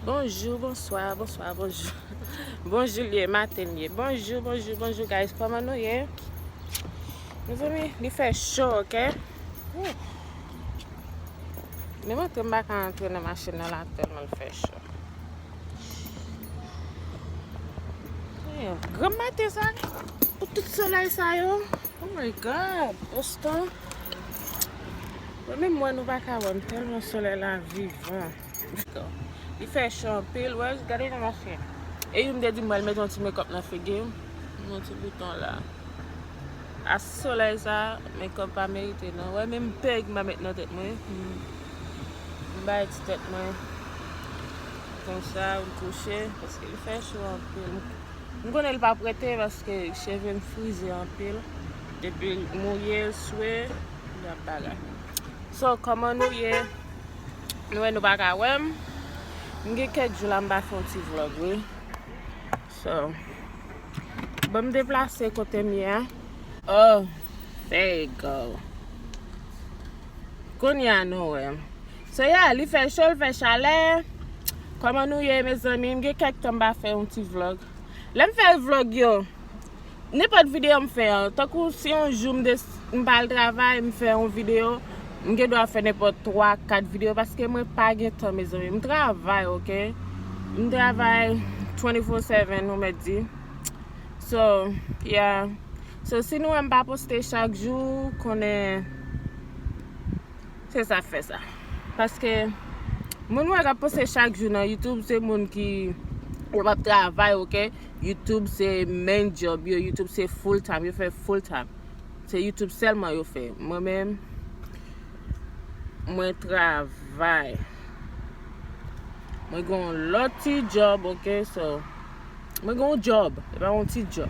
Bonjou, bonswa, bonswa, bonjou Bonjou liye, maten liye Bonjou, bonjou, bonjou guys Koman nou ye? Nou zemi, li fè chò, ok? Mwen mwen te mba ka antre nan machin nan la Telman l fè chò Granm maten sa, pou tout solèy sa yo, oh my God, Boston, mwen menm wè nou pa ka wè m tèlman solèy la vivan. Li fè cho anpil, wè, gade jan mwen fè. E youn te di m wè l met yon ti mekòp nan figi m, yon ti bouton la. A solèy sa, mekòp pa merite non. Wè menm pèg m pa met nan tèt mwen. M bay ti tèt mwen konsa m kouche paske li fè cho anpil. M konnen li pa prete paske cheve m frize anpil. Depi l mouye, l swe, li ap bagay. So, kòman nou ye? Nou wè nou pa ka wè m. M gen kèk jou la m pa fè yon ti vlog wi. So, bon m deplase kote m ye a. Oh, there you go. Kounya nou wè. So yeah li fè cho li fè chalè. Kòman nou ye mezanmi m gen kèk tan m pa fè yon ti vlog. Lè m fè vlog yo nenpòt videyo m fè an tankou si yon jou m des m pa al travay m fè yon videyo m gen dwa fè nenpòt 3, 4 videyo paske mwen pa gen tan mezanmi m travay ok m travay 24 seven ou mèt di so yeah So si nou wèm pa poste chak jou konnen se sak fè sa paske moun wè kap poste chak jou nan YouTube se moun ki yo pap travay ok YouTube se main job yo YouTube se full time yo fè full time se YouTube sèlman yo fè mwen menm mwen travay mwen gon lòt ti job ok so. Mwen gen yon job, e pa yon ti job.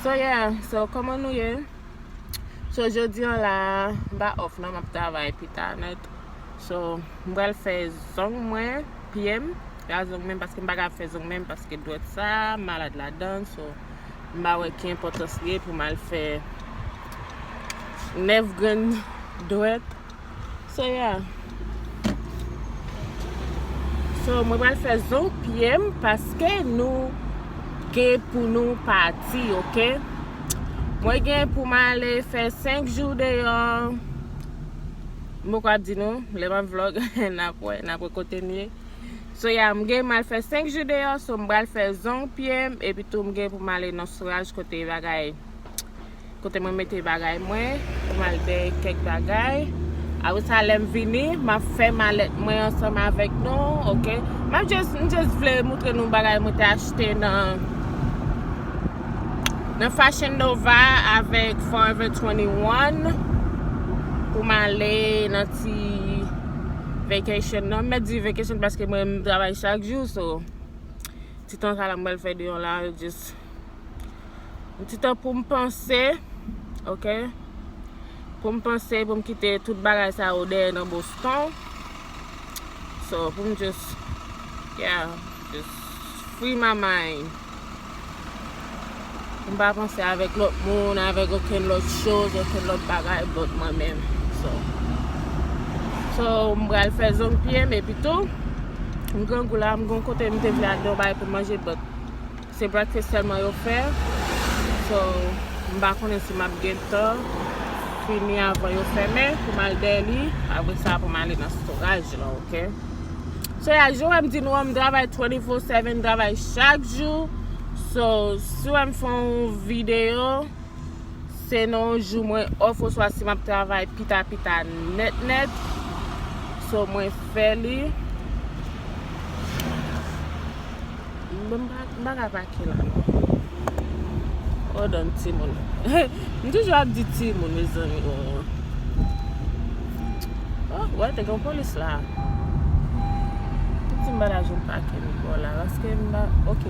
So yeah, so koman nou ye? So jodi an la, m pa off non, m ap travay pita nèt. So, m pral fè zong mwen, pye m, la zong menm paske m pa ka fè zong menm paske dwèt sa, m malad ladan, so m pa wè ki enpòtans li ye pou m al fè 9 grenn dwèt. Soya So mwen pral fè zo pyem paske nou gen pou nou pati ok Mwen gen pou m ale fè 5 jou deyò M poko ap di nou lè map vlog nap wè nap wè kote m ye Soya m gen mal fè 5 jou deyò so m pral fè zong pyem epitou m gen pou m ale nan souraj kote bagay Kote mwen mete bagay mwen, pou mal dèy kèk bagay. Apre sa lèm vini, map fè malèt mwen ansanm avèk nou, ok. Map just, m just vle moutre nou bagay mwen te achte nan, nan Fashion Nova avèk Forever 21, pou m ale nan ti vacation nan, m mèt di vacation paske mwen menm m travay chak jou, so ti tan sa la m pral fè deyò la, just. Yon ti tan pou m panse, ok. Pou m panse, pou m kite tout bagay sa yo dèyè nan Boston. So, pou m just, yeah, just free my mind. Pou m pa panse avèk lòt moun, avèk okenn lòt choz, okenn lòt bagay but mwen menm. So, so m pral fè zong pye m epitou. M grangou la, m gen yon kote m te vle al, gen yon bagay pou m manje but. Se breakfast sèlman yo fè so m pa konnen si map gentan fini avan yo fèmen pou m al dèyè li apre sa pou m ale nan storaj lan ok so ya jan w wè m di nou an m travay 24 7 m travay chak jou so si w wè m fè yon videyo. Se nan yon jou mwen off oswa si map travay pita pita nèt nèt. So mwen fè li. Mwen baka pa ki la non. Hold on ti moun. M toujou ap di ti moun mezanmi oo. Oh wè te gen yon polis la. Ti m bala jwenn pake li bò la. Paske m ba ok.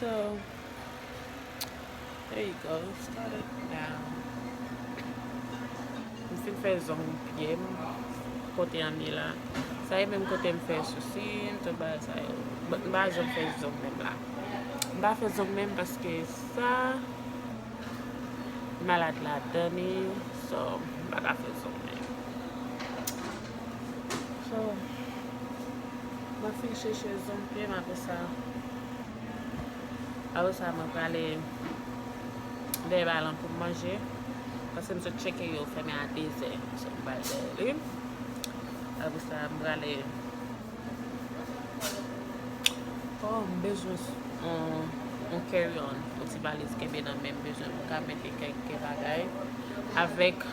So there you go it's got it now m fin fè zong pyem kote an ye la sa e menm kote m fè sousim tout bagay sa yo but m pa janm fè zong menm la m pa fè zong menm paske sa malad ladan li so m paka fè zong menm. So mwen fin cheche zoom pye m apre sa apre sa mwen prale dèyè balan pou m manje pase m sot cheke yo fèmen a 2 zè so m prale dèyè li apre sa m prale oh m bezwen yon carry on yon ti valiz kenbe nan menm bezwen pou m ka mete kèk bagay avèk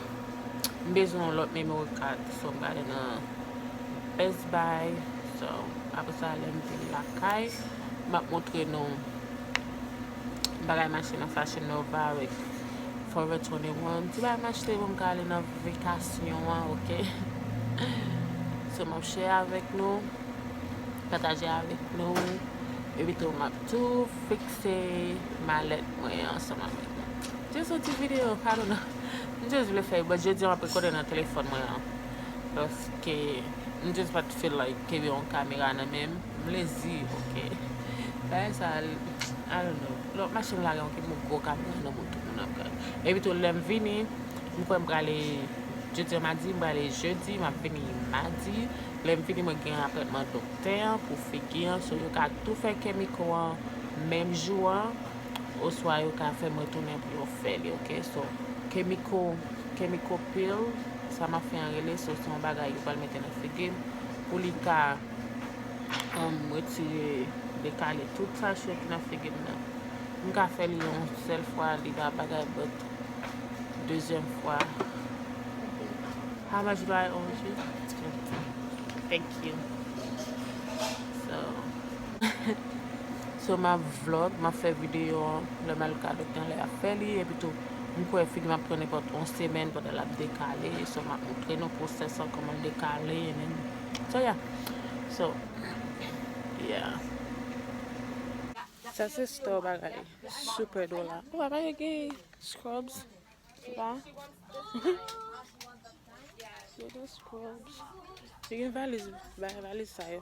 M bezwen yon lòt memory card so m gade nan best buy so apresa lèm vin lakay map montre nou bagay m achte nan fashion nova avèk forever 21 ti bagay m achte pou m ka ale nan vekasyon an ok so map share avèk nou pataje avèk nou epitou map tou fikse malèt mwen ansanm avèk nou jis yon ti video kado nan. M just vle fè but jodi an map rekòde nan telefòn mwen an paske m just pat feel like kenbe yon kamera nan menm m lezi ok bagay sa I don't know lè wap mache m lage yon ti gwo kamera nan bouda m nan bagay epitou lèm vini m kwè m prale jodi an madi m prale jedi map vini madi lèm fini mwen gen apwèntman doktè an pou figi an so yo ka tou fè kè miko an menm jou an. Oswa yo ka fèm retounen pou yo fè li ok so kemiko kemiko pil sa map fè an rele so se yon bagay yo pral mete nan figim pou li ka humm retire dekale tout sachet ki nan figim nan m ka fè li yon sèl fwa li pa bagay but dezyèm fwa how much do I owe you? Thank you so. So map vlog, map fè video lè mal kado gen lè ap fè li epi tou m kwè figi map pran nenpòt yon semèn pandan lap dekale so map montre nou pwosès lan kòman l dekale ennen so ya so ya sa se store bagay super dola ou pa wè gen scrubs la se de scrubs li gen valiz valiz sa yo.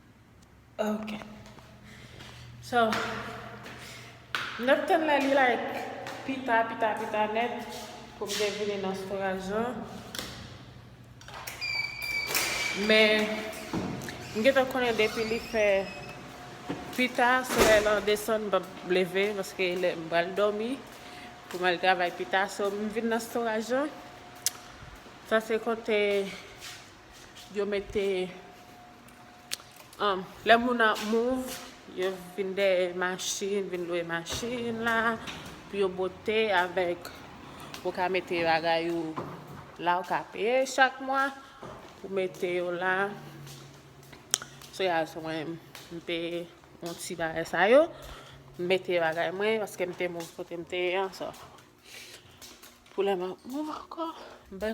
Ok. So, m t ap tann lè li like pita, pita, pita nèt pou m te vini nan storaj lan. Men, m gentan konnen depi li fè pita, se lè lan desann m p ap leve paske lè m pral dòmi pou m al travay pita. So, m vin nan storaj lan. Sa se kote Yo mete um lè moun ap move yo vin dèyè machin, vin lwe machin la pou yo bote avèk ou ka mete bagay ou la ou ka peye chak mwa pou mete yo la. So ya sou mwen m peye yon ti bagay sa yo, m mete bagay mwen paske m te move kote m te ye an so pou lè m ap move ankò m bè.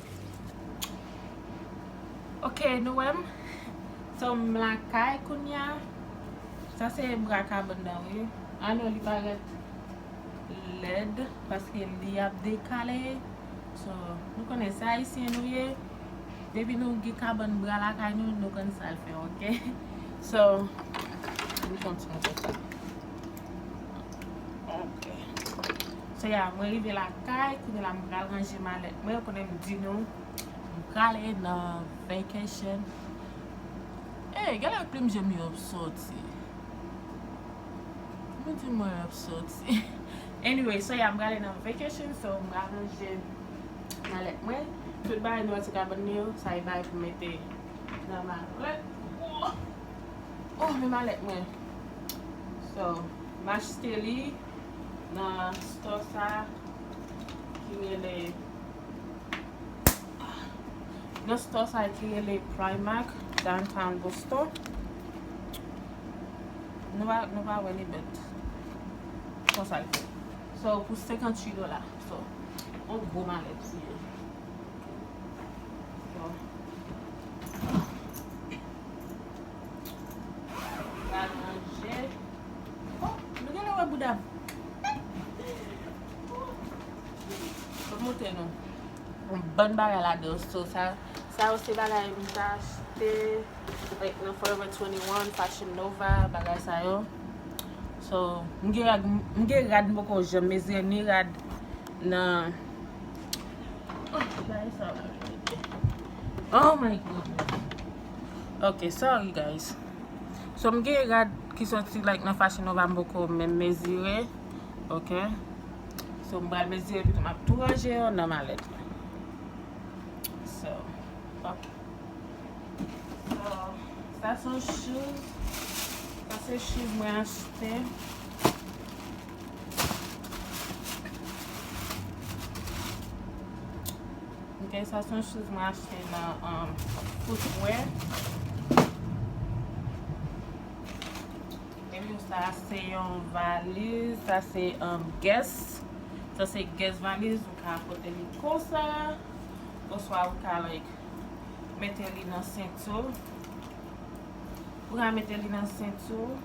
Ok nou wè m So m lakay kounya Sa se bra kabon nan wi Ah non li parèt lèd Paske li ap dekale So nou konnen se ayisyen nou ye Depi nou gen kabòn bra lakay nou Nou konn sa l fè ok So Nou kontinye konsa Ok. Sè ya, mwen rive la kay, kounye la m pral ranje malèt mwen, konnen m di nou, m prale nan vacation. Ey, gen lè plim je m yo ap soti. Mwen di mwen ap soti. Anyway, sè ya m prale nan vacation, so m pral ranje malèt mwen. Tout bagay nou wè ti kabann mwen yo, sa e bagay pou m mete nan malèt. Woo! Oh, men malèt mwen. So m achte li nan stò sa ki rele nan stò sa ki rele Primark downtown Boston. Nou va nou va wè li bèt. Konsa l fè. So pou 58 dola. So on gwo malèt li ye. Pral manje. Oh, nou genlè wè boudam. Map montre nou. Yon bann bagay ladanl so sa. Sa yo se bagay m ta achte like nan Forever 21, Fashion Nova, bagay sa yo. So, m gen rad, m gen rad m poko janm mezire ni rad nan Oh, bagay sa yo la mèt. Oh my goodness. Ok sorry guys So m gen rad ki soti like nan fashion nova m poko menm mezire ok So m pral mezire pito map tou ranje yo nan malèt la So ok So sa son shoes Sa se shoes mwen achte. Ok, sa son chouz mwen achte nan footwear. E mou sa se yon valiz, sa se yon guess. Sa se guess valiz, ou ka apote li konsa. Oswa ou ka like, mete li nan sentou. Ou ka mete li nan sentou.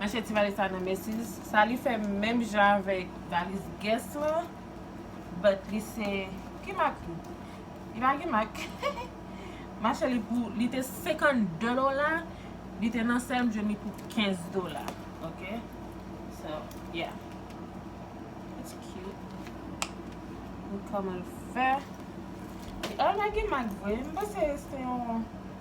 Mache ti valiz sa nan Macy's. Sa li fè menm jan avèk valiz Guess lan. But li se, ki mak li? Li pa gen mak. Mache li pou, li te 52 dola, li te nan sèl m jwenn li pou 15 dola. Ok. So, yeah. It's cute. Gad kòman l fè. Li, oh, li pa gen mak vre. M panse se yon.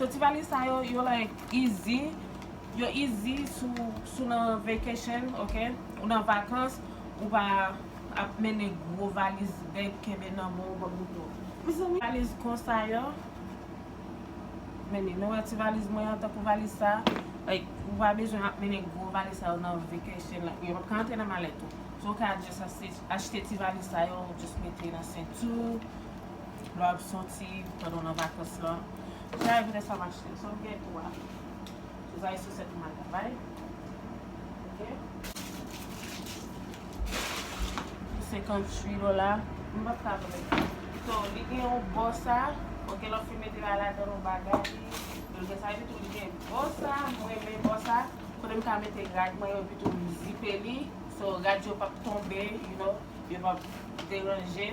So ti valiz sa yo yo like easy yo easy sou nan vacation ok ou nan vakans ou pa ap mennen gwo valiz bèk kenbe nan men w banm goumen mezanmi valiz konsa yo meni nou wè ti valiz mwen an tankou valiz sa like ou pa bezwen ap mennen gwo valiz sa yo nan vacation like yo pap ka antre nan malèt ou so ou ka just achte ti valiz sa yo just mete nan senti w. Lè wap soti pandan w nan vakans lan, ki jan evre sa mache? Sa w gen ou a, se sa e sosèt ou mal travay. Ok. Pou 58 dola, m pap ka vre. So, li gen yon bò sa, ok, lòt fi mete ala dan yon bagay li, li gen sa epitou li gen bò sa, m renmen bò sa, kote m ka mete rad mwen yo epitou m zipe li, so rad yo pap tonbe, you know, yo pap deranje.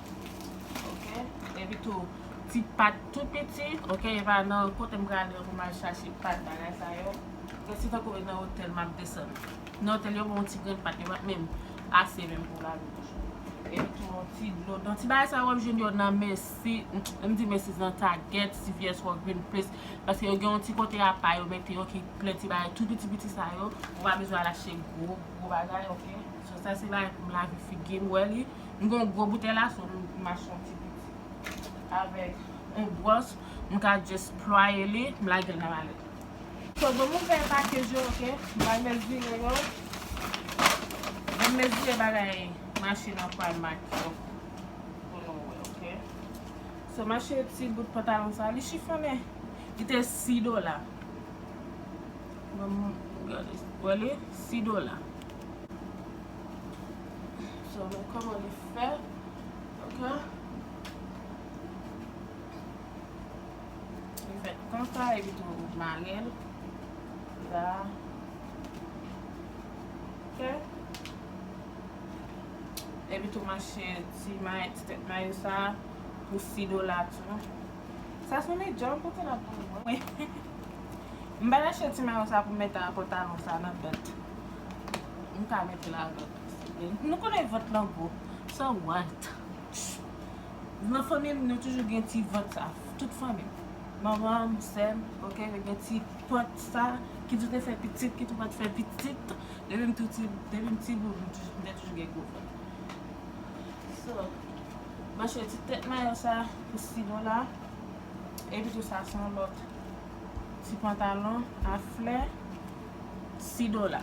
Ok epi tou ti pat tou piti ok epa nan kotem pral yo pou mal chache pat bagay sa yo ok se tankou e nan otèl map desann nan otèl yo banw ti grenn pat yo pat menm ase menm pou lave bouch ou epi tou yon ti dlo nan ti bagay sa yo wap jwenn yo nan mesi lèm di mesi se nan tagèt cvs wò green place paske yo gen yon ti kote apa yo mete yo ki plen ti bagay tou piti piti sa yo ou pa bezwen al achte gwo gwo bagay ok sa se bagay poum lave figim wè li. M gen yon gwo boutèy la so m mache yon ti piti. Avèk yon bwòs m ka just plwaye li m lagel nan malèt. So granmoun m fè pakej yo ok. M pral mezire yo. Lè m mezire bagay machin an pral make yo pou nou wè ok. So mache ti bout pantalon sa li chifonnen. Li te 6 dola. Granmoun gade wè li 6 dola. So men koman li fèt ok. Li fèt konsa epi tou ou marel la ok. Epi tou manche ti may ti tèt may ou sa pou 6 dola tou. Sa son de djòl kote lap voye mwen. M pa ta achte ti mayo sa pou m mete a pantalon sa nan bèt. Mta mete la vant souple. Nou konnen vant lan gwo. So what? Nan fanmim nou toujou gen ti vant sa. Tout fanmim. Manmanm, sèm, ok yo gen ti vant sa. Ki tou te fè pitit, ki tou pat fè pitit. Depim tou ti, depim ti boul m te toujou gen gwo vant. So, mwen chwe ti tèt mayo sa pou Silo la. Epi tou sa son lòt ti pantalon a flè. 6 dola.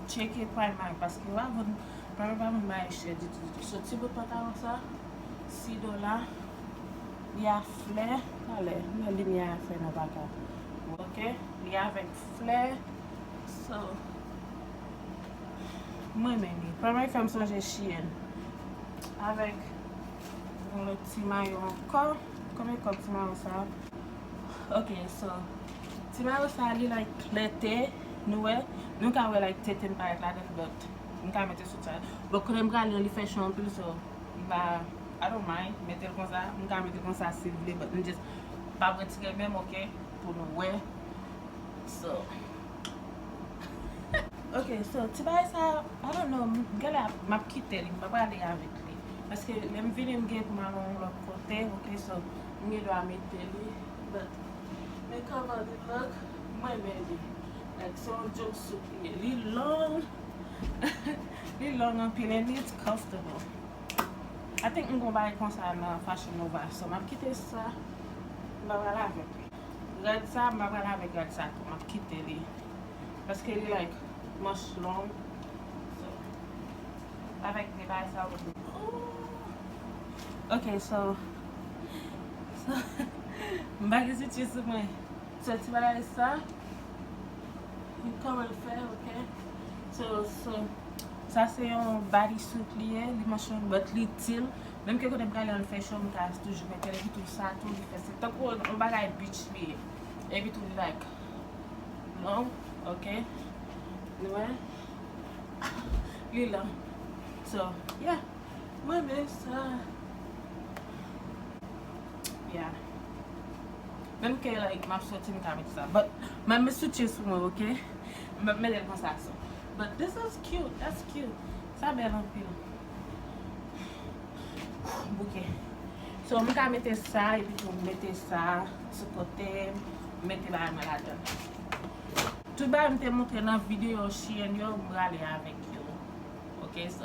Tcheke Primark paske wa jwenn Primark pa menm bay chè ditou ditou. So ti bout pantalon sa 6 dola li a flè talè lè limyè a fè nou paka wè ok li avèk flè so m renmen li. Primark fè m sonje Shein avèk yon lòt ti mayo ankò. Konbyen kòb ti mayo sa ok so. Ti mayo sa li like klète nou wè nou ka wè like tetem parèt ladann but m ka mete sou sa bon kote m prale an li fè cho anpil so m pa I don't mind metel konsa m ka mete konsa siw vle but m just pap retire menm ok pou nou wè so ok so ti bagay sa I don't know m genlè ap map kitel m pa prale avèk li paske lèm vini m gen pou m al yon lòt kote ok so m gen dwa mete li but. Men kòman li look m renmen li like se yon jumpsuit li ye li long li long anpil and it's comfortable I think m gon bagay konsa nan fashion nova so map kite sa m pa pral avèk li rad sa m pa pral avèk rad sa tou map kite li paske li like manch long so avèk de bagay sa yo ok so. M pa gen sitie sou mwen. So ti bagay sa. M koman l fè ok. So so. Sa se yon body suit li ye. Li manch long but li itil. Menm ke kote m prale an l fè cho m ka toujou mete l. Epitou sa tou li fè se tankou yon bagay beach li ye. Epitou li like long ok. Nou wè. Li long. So yeah. Mwen vle sa. Yeah. Menm ke like map soti m ka met sa. But map met soutye sou mwen ok. Map metel konsa so. But this is cute. That's cute. Sa bel anpil. Bouke. So m ka mete sa epi tou m mete sa sou kote m. M mete bagay mwen ladann. Tout bagay m te montre nan video Shein yo m prale avek yo. Ok so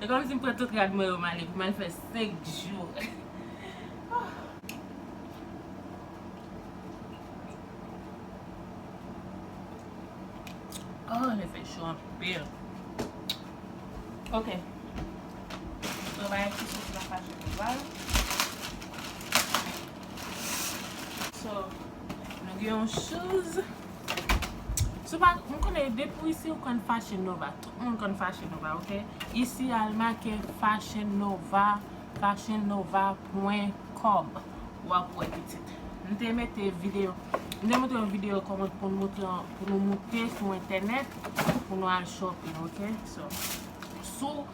e kòm si m pran tout rad mwen yo m ale pou m al fè 5 jou ohh. Ohh lè fè cho anpil ok mwen bay ti sos la pa cho konsa so nou gen yon chouz sou pa m konnen depi w isi ou konn fache nova. Tout moun konn Fashion Nova ok. Isi al make Fashion Nova Fashion Nova pwen kòm wap wè pitit. M te mete video M te montre yon video kòman pou nou moute sou entènèt pou nou al shopping ok. So sou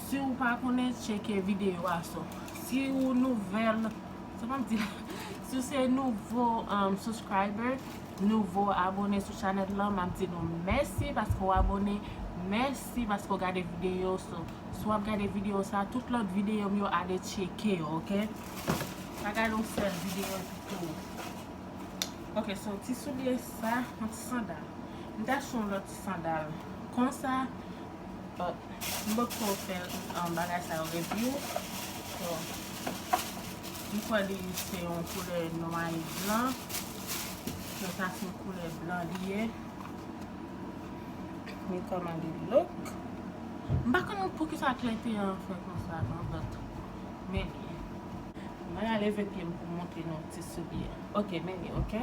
si ou pa konnen tcheke video a so si ou nouvèl sa map di la si ou se nouvo subscriber. nouvo abone sou chanèl lan map di nou mèsi paske w abone mèsi paske w gade videyo so si wap gade videyo sa tout lòt videyo m yo ale tcheke yo ok pa gade yon sèl videyo epi tou ok se yon ti soulye sa yon ti sandal m ta achte yon lòt ti sandal konsa m pap ko fè bagay sa yo review m kwè li se yon koulè nwa e blan Mwen ta se koulè blan li ye. Mwen kòmande lòk. M pa konnen pou ki sa klè te an fè kon sa non but. Men li. Mwen la leve pye m pou montre nou ti souli a. Ok men li ok.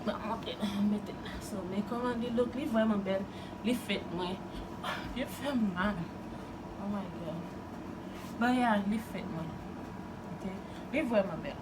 Mwen montre nou mwen mete l la. So mwen kòmande lòk li vwèman bèl. Li fèt mwen. Pye fè m mal. Oh my god. Bon ya li fèt mwen. Ok. Li vwèman bèl.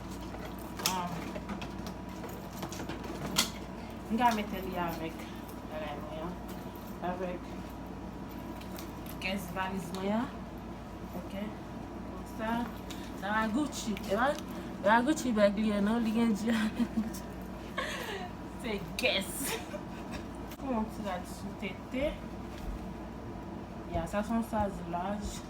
M ka mete li avèk bagay mwen an. Avèk kès valiz mwen an. Ok. Konsa. Sa va Gucci. E pa pa Gucci bag li ye non. Li gen di avèk Gucci. Se kès. Fon an ti rad sou tete. Ya sa son saz laj.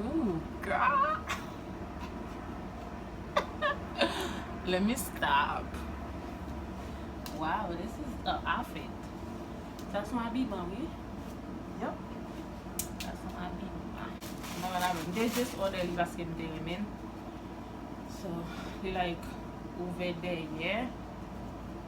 Ooh girl Let me stop Wow this is a outfit Sa son abiman wi Yup Sa son abiman Mwen renmen abiman Mte just order li paske mte renmen l So li like ouvè dèyè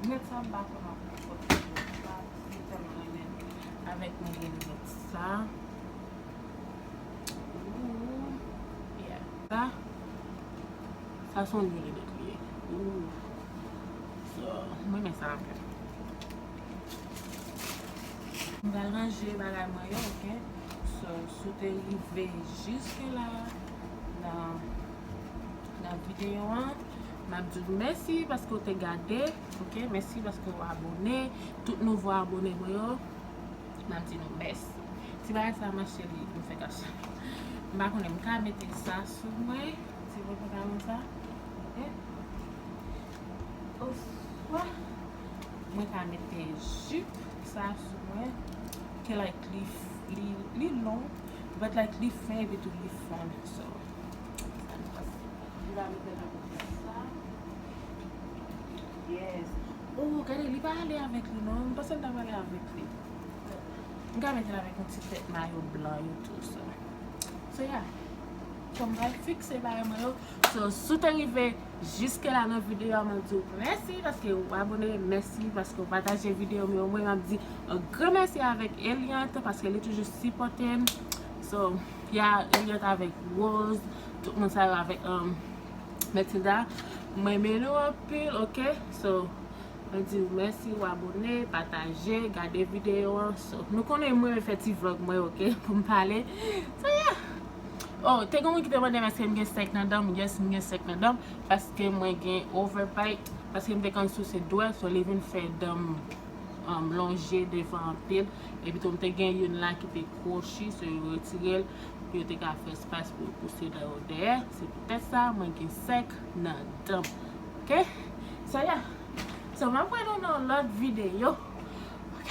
Lunette sa mpa konn anpil fot li fè mwen pa vin tèlman renmen avèk mwen gen lunette sa ooh yeah sa sa son vye lunette li ye ooh so m renmen sa anpil. M pral ranje bagay mwen yo ok so si w te rive jiske la nan nan videyo an. Map di ou mèsi paske ou te gade ok mèsi paske ou abone tout nouvo abone mwen yo map di nou mèsi ti bagay sa ma cheri m fè kache m pa konnen m ka mete sa sou mwen ti mwen fè kache sa ok oswa mwen ka mete jip sa sou mwen ke like li li li long but like li fè epi tou li fon so sa m panse. Li va metel nan bouch la konsa. Yes. Oh gade li pa ale avek li non. M panse l ta prale avek li. M ka metel avek yon ti tet mayo blan yo tou so. So yeah. Fom pral fikse bagay mwen yo. So si w te rive jiske la nan video a map diw mèsi paske ou abone, mèsi paske ou pataje video m yo. Mwen map di yon gran mèsi avek Eliante paske li toujou sipotem. So yeah Eliante avek Rose. Tout moun sa yo avèk mèt Tilda mwen renmen nou anpil ok so mwen diw mèsi ou abone pataje gade video an so nou konnen mwen renmen fè ti vlog mwen ok poum pale so yeah oh te gen yon moun ki te mandem èske m gen sèk nan danm yes m gen sèk nan danm paske mwen gen over bite paske m te konn souse dwèt so li vin fè danm lonje devan anpil epi tou m te gen youn la ki te kwochi so yo retirel pou yo te ka fè espas pou yo pouse dan yo dèyè, se poutèt sa mwen gen sèk nan dan m ok sèyè so map wè nou nan yon lòt videyo ok.